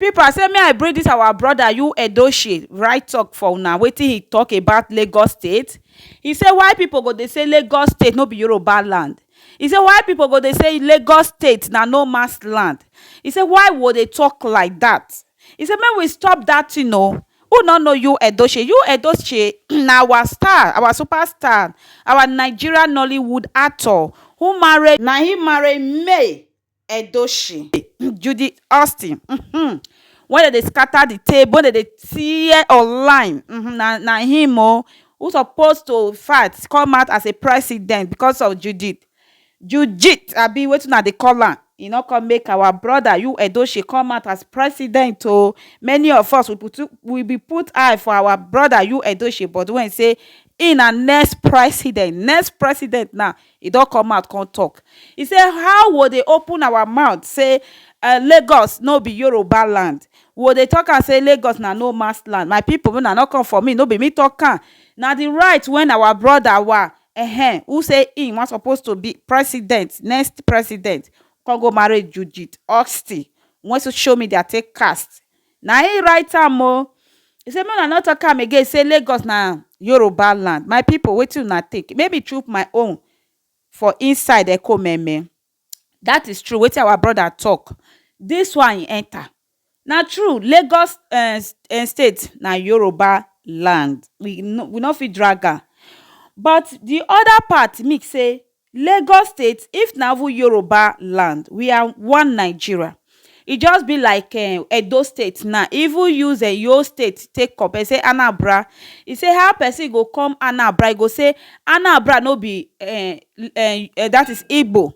Pipu I say make I bring dis our brother Ayu Edochie right talk for una wetin he talk about Lagos state he say why pipu go dey say Lagos state no be Yoruba land he say why pipu go dey say Lagos state na no man's land he say why we go dey talk like dat he say make we stop dat thing oo who no know Ayu Edochie? Ayu Edochie na our star our super star our Nigeria Nollywood actor who marry na him marry May Edochie, Judy Austin um wen dem dey scatter the table wen dem dey tear online um na na him oo who suppose to fight come out as a president because of Judy Judith abi wetin una dey call am e no come make our brother you Edochie come out as president oo many of us we be too we be put eye for our brother you Edochie but wen e say him na next president next president now E don come out come talk, e say how wo dey open our mouth say Lagos no be Yoruba land, wo dey talk am say Lagos na no man's land, my people make una no come for me, no be me talk am, na the right when our brother wa ehen who say him wan suppose to be president, next president, come go marry Judith Austin wey social media take cast Na im write am o. He say make una no talk am again say Lagos na Yoruba land. My people wetin una think? Make me chook my own for inside ekomeme. That is true wetin our brother talk. This one e enter. Na true Lagos um um state na Yoruba land. We no we no fit drag am. But the other part mean say Lagos state if na even Yoruba land we are one Nigeria e just be like um Edo state now e even use um Eyo state take compare say Anabra e say how person go come Anabra e go say Anabra no be um um dat is Igbo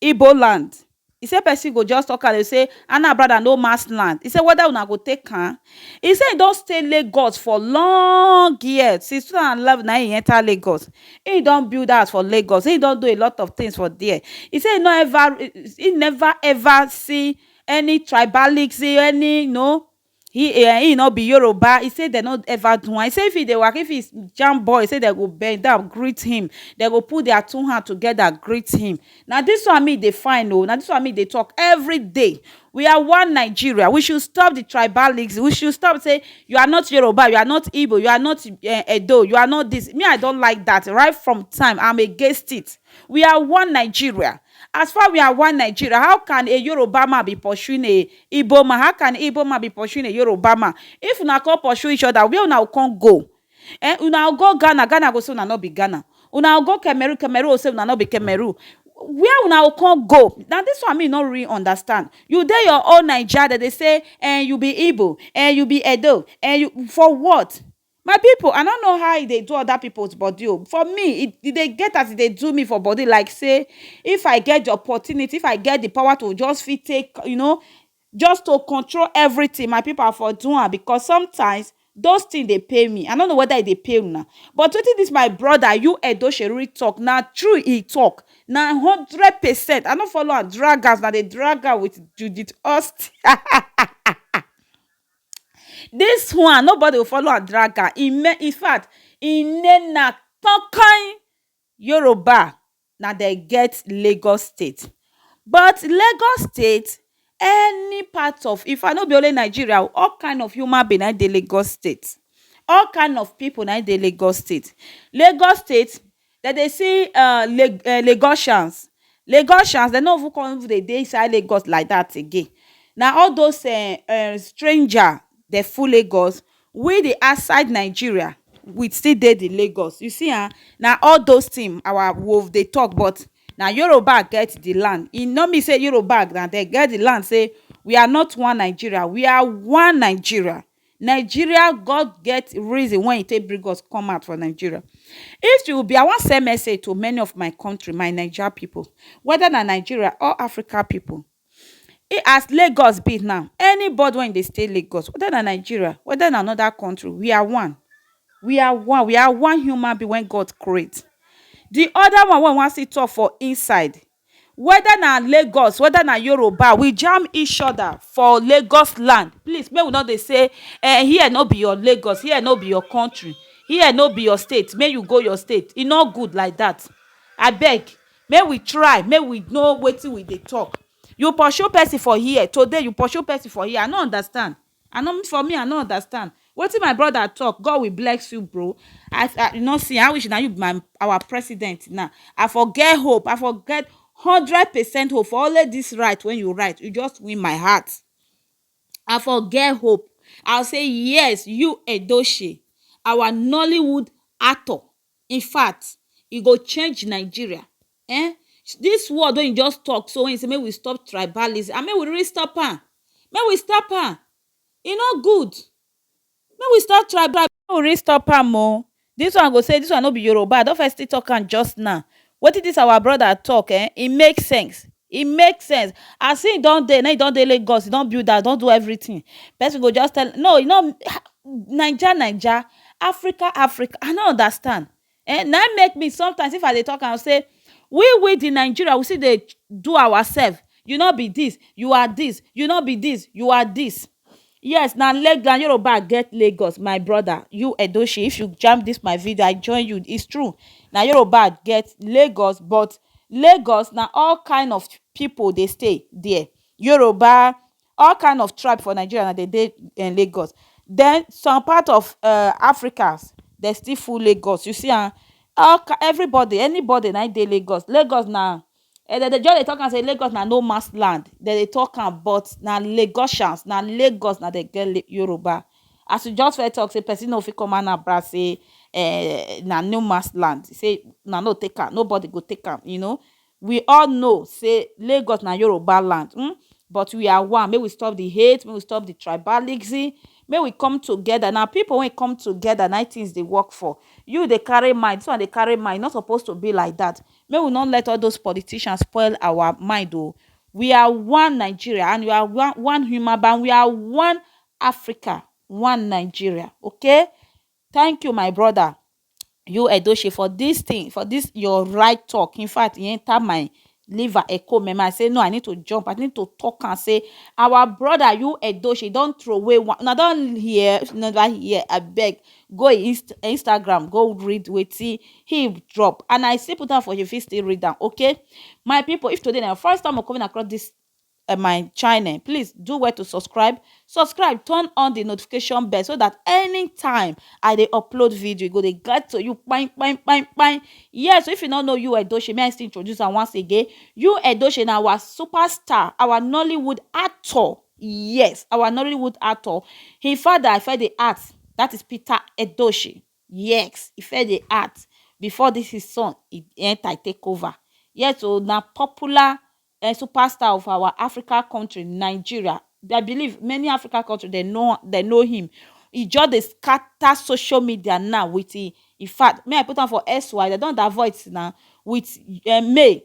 Igbo land. E say person go just talk am dey say Anna brother no man's land. E say whether una go take am. E say e don stay Lagos for long years since two thousand and eleven na im e enter Lagos. Im don build house for Lagos. Im don do a lot of things for there. E say e no ever, e never ever see any tribalism, any you know, he um he no be Yoruba he say dem no ever do am he say if he dey waka if he jam boy he say dem go bend down greet him dem go put their two hand together greet him na this one me dey find o na this one me dey talk everyday we are one Nigeria we should stop the tribalism we should stop say you are not Yoruba you are not Igbo you are not um Edo you are not this me I don't like that right from time I'm against it we are one Nigeria As far we are one Nigeria, how can a Yoruba man be pursuing a Igbo man? How can Igbo man be pursuing a Yoruba man? If una come pursue each other, where una go come go? Eh, una go go Ghana, Ghana go say una no be Ghana. Una go go Cameroon, Cameroon go say una no be Cameroon. Where una go come go? Na this one me no really understand. You dey your own Naija, dem dey say, eh, you be Igbo, eh, you be Edo, eh, you, for what? My people I no know how e dey do other people's body o for me e dey get as e dey do me for body like sey if I get de opportunity if I get de power to just fit take you know just to control everything my people I for do am because sometimes those things dey pain me I no know whether e dey pain una but wetin dis my brother you Edosheriri talk na true e talk na hundred percent I no follow am drag am as una dey drag am with Judith Austin Dis one nobody go follow am drag am e me in fact e name na kon kon Yoruba na dem get Lagos state but Lagos state any part of in fact no be only Nigeria o all kind of human being na im dey Lagos state all kind of pipu na im dey Lagos state. Lagos state Dem dey see um Lagosians, Lagosians dem no even come even dey dey inside Lagos like dat again na all those um stranger dem full Lagos we di outside Nigeria we still dey di Lagos you see am na all those thing our we dey talk but na Yoruba get di land e no mean say Yoruba na dem get di land say we are not one Nigeria we are one Nigeria Nigeria God get reason wen e take bring us come out for Nigeria. If you be I wan send message to many of my country my Naija pipu whether na Nigeria or Africa pipu as Lagos be now anybody wey dey stay Lagos whether na Nigeria whether na another country we are one we are one we are one human being wey God create. De other one wey I wan still talk for inside Weda na Lagos weda na Yoruba we jam each oda for Lagos land please make we no dey say um here no be your Lagos here no be your country here no be your state make you go your state e no good like dat abeg make we try make we know wetin we dey talk you pursue person for here today you pursue person for here I no understand. I no for me I no understand wetin my brother talk God will bless you bro I I you no see I wish na you be my our president now I for get hope I for get hundred percent hope for only this right when you write you just win my heart I for get hope I say yes you Edochie our Nollywood actor in fact e go change Nigeria um this word wey he just talk so wey he say make we stop tribalism and make we really stop am make we stop am e no good make we stop tribalism make we really stop am o this one go say this one no be Yoruba I don firstly talk am just now Wetin this our brother talk eh, e make sense, e make sense as him don dey now, e don dey Lagos, e don build house, e don do everything, person go just tell, no e no, ha, Naija Naija, Africa Africa, I no understand eh, na him make me sometimes if I dey talk am say, we we the Nigeria we still dey do ourselves, you no be this, you are this, you no be this, you are this, Yes na Leg na Yoruba get Lagos my brother you Edoshey if you jam this my video I join you it's true na Yoruba get Lagos but Lagos na all kind of people dey stay there Yoruba all kind of tribe for Nigeria na dem dey Lagos then some part of um Africa dem still full Lagos you see am all everybody anybody na him dey Lagos, Lagos na um dem dey just dey talk am say Lagos na no man's land, dem dey talk am but na Lagosians, na Lagos na dem get Yoruba. As you just first talk say person no fit come Anambra say um na no man's land, say una no take am, nobody go take am, you know. We all know say Lagos na Yoruba land um but we are one, make we stop the hate, make we stop the tribalism, make we come together. Na pipu wey come together na im things dey work for. You dey carry mind, dis one dey carry mind, e no suppose to be like that. Make we no let all those politicians spoil our mind o. We are one Nigeria and we are one one human being and we are one Africa, one Nigeria okay. Thank you my brother you Edochie for this thing for this your right talk in fact e enter my liver echo memo I say no I need to jump I need to talk am say our brother you Edochie don throway one una don hear never hear abeg Go e inst instagram go read wetin him drop and i still put am for you fit still read am okay my people if today na your first time of coming across this uh, my channel please do well to subscribe subscribe turn on the notification bell so that anytime i dey upload video e go dey get to you bang bang bang bang yes so if you no know you edoche may i still introduce am once again you edoche na our superstar our nollywood actor Yes, our Nollywood actor. Him father e first dey act, that is Peter Edochie. Yes, e first dey act before this his son e enter e take over. Yes o, na popular um superstar of our Africa country Nigeria. I believe many Africa country dem know dem know him. E just dey scatter social media now with him in fact make I put am for SY dem don avoid now with um May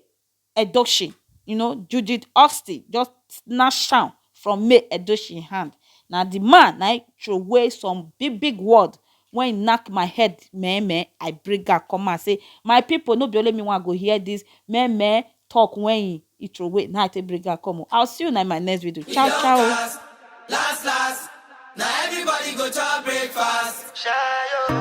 Edochie, you know Judith Austin just snatch am from May Edochie hand. Na the man na im throway some big big word when he knack my head meh meh, I bring am come out say my people no be only me wan go hear this meh meh talk when he he throway na I take bring am come o. I will see una in my next video. Ciao ciao. Last, last, last. Now everybody go chop breakfast. Shayo.